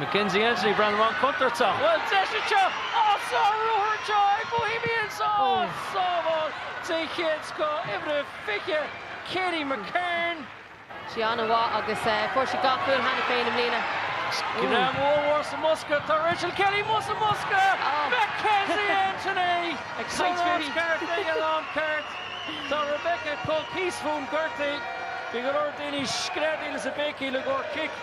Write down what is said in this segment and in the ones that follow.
McKenzie Anthony ag breathnú an-chontúirteach, bhuel deis anseo ach sa ruathar seo ag Bohemians ón sábháil den chéad scoth, uimhir 20, Katie McCarn. sí an-mhaith agus fuair sí dhá chúl cheana féin i mbliana. Scread ollmhór sa mbosca, tá Rachel Kelly amuigh sa mbosca! McKenzie Anthony san áit cheart ag an am ceart. Tá Rebecca Cooke thíos fúm gortaithe. Bhí go leor daoine ag screadaíl is ag béicíl i gcomhair cic.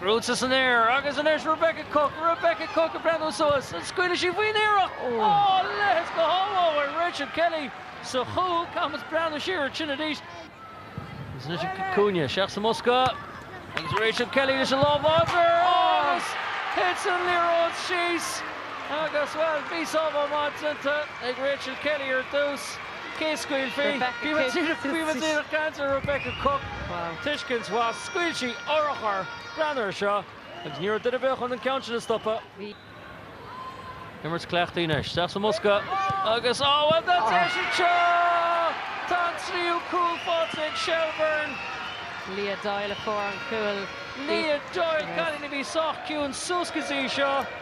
Crochta san aer agus anois Rebecca Cooke, Rebecca Cooke ag breathnú suas, an scaoilfidh sí faoin iarracht? Ó, a leithéid de shábháil ó Rachel Kelly sa chúl, caithfimid breathnú siar ar sin arís. Agus anois an cic cúinne, isteach sa mbosca agus Rachel Kelly leis an lámh láidir agus thit an liathróid síos agus, bhuel, bhí sábháil maith déanta ag Rachel Kelly ar dtús. Cé a scaoilfidh? Bhí muid ag déanamh cainte ar Rebecca Cooke. Tuiscint mhaith. Scaoil sí urchar! Breathnaigh ar seo. Agus ní raibh duine ar bith chun an ceann sin a stopadh. Bhí. Imirt cleachtaidh anois. Isteach sa mbosca agus á bhuel tá deis anseo! Tá an tríú cúl faighte ag Shelbourne. Leah Doyle a fuair an cúl. Leah Doyle, cailín a bhí sách ciúin suas go dtí seo.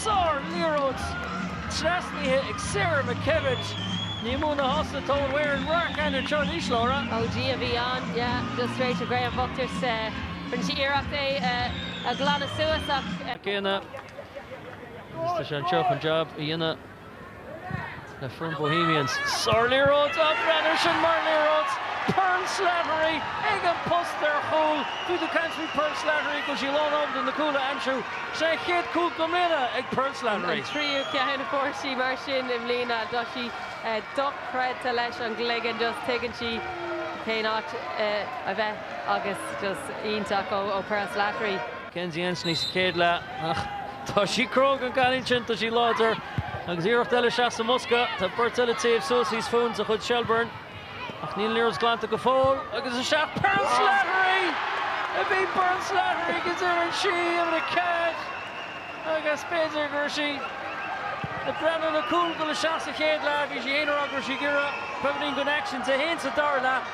Sár-liathróid trasnaithe ag Sarah McKevitt. Ní mó ná sásta atá an fhoireann Wreck and her Church Each Laura. OG a bhí ann yeah just straight to Graham bhocht agus rinne sí iarracht é a ghlanadh suas ach. Tá céanna. Is tá sé anseo chun jab a dhéanamh. le foireann Bohemians. Sárliathróid á breathnaigh air sin mar liathróid Pearl Slattery ag an bpost ar chúl. Bhí tú ag caint faoi Pearl Slattery go bhfuil sí lánábalta na cúil a aimsiú. Sé an chéad chúl i mbliana ag Pearl Slattery. An tríú ceann a fuair sí mar sin i mbliana. Tá sí dochreidte leis an gcloigeann. Just tuigeann sí cén áit a bheith agus just iontach ó Pearl Slattery. Kenzie Anthony sa chéad leath ach tá sí cróga an cailín sin, tá sí láidir agus iarracht eile isteach sa mbosca, tá beirt eile ag téamh suas thíos fúinn de chuid Shelbourne ach níl an liathróid glanta go fóill agus isteach Pearl Slattery! a bhí Pearl Slattery agus deireann sí ar a cead agus b'fhéidir go raibh sí ag breathnú le cúl ag dul isteach sa chéad leath, bhí sí fhéin ag rá go raibh sí ag iarraidh beagáinín den action, 1 sa dara leath.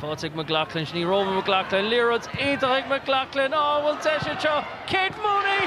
Faighte ag McLaughlin, sin í Roma McLaughlin, liathróid iontach ag McLaughlin, á bhuel deis anseo, Kate Mooney!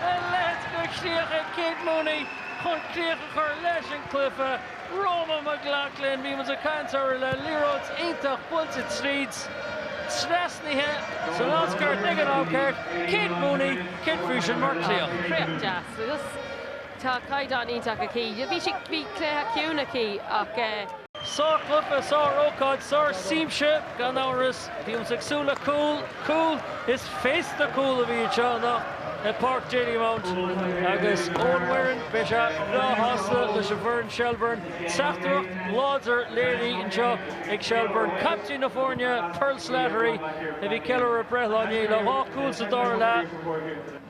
A leithéid de chríoch ag Kate Mooney chun críoch a chur leis an gcluiche. Roma McLaughlin, bhí muid ag caint air le liathróid iontach buailte tríd, trasnaithe san áit cheart ag an am ceart, Kate Mooney, céard faoi sin mar chríoch. Críoch dheas agus. Tá caighdeán iontach aici. Bhí sí, bhí cluiche ciúin aici ach. Sárchluiche, sár-ócáid, sárshiamsa gan amhras. Bímis ag súil le cúl, cúil, is féasta cúl a bhí anseo anocht i Páirc Dalymount agus Eoin Wearen, beidh sé breá shásta leis an bhfoireann Shelbourne. Teachtaireacht láidir léirithe anseo ag Shelbourne. Caiptín na foirne, Pearl Slattery, a bhí ag ceiliúradh breithlá inné le dhá chúl sa dara leath.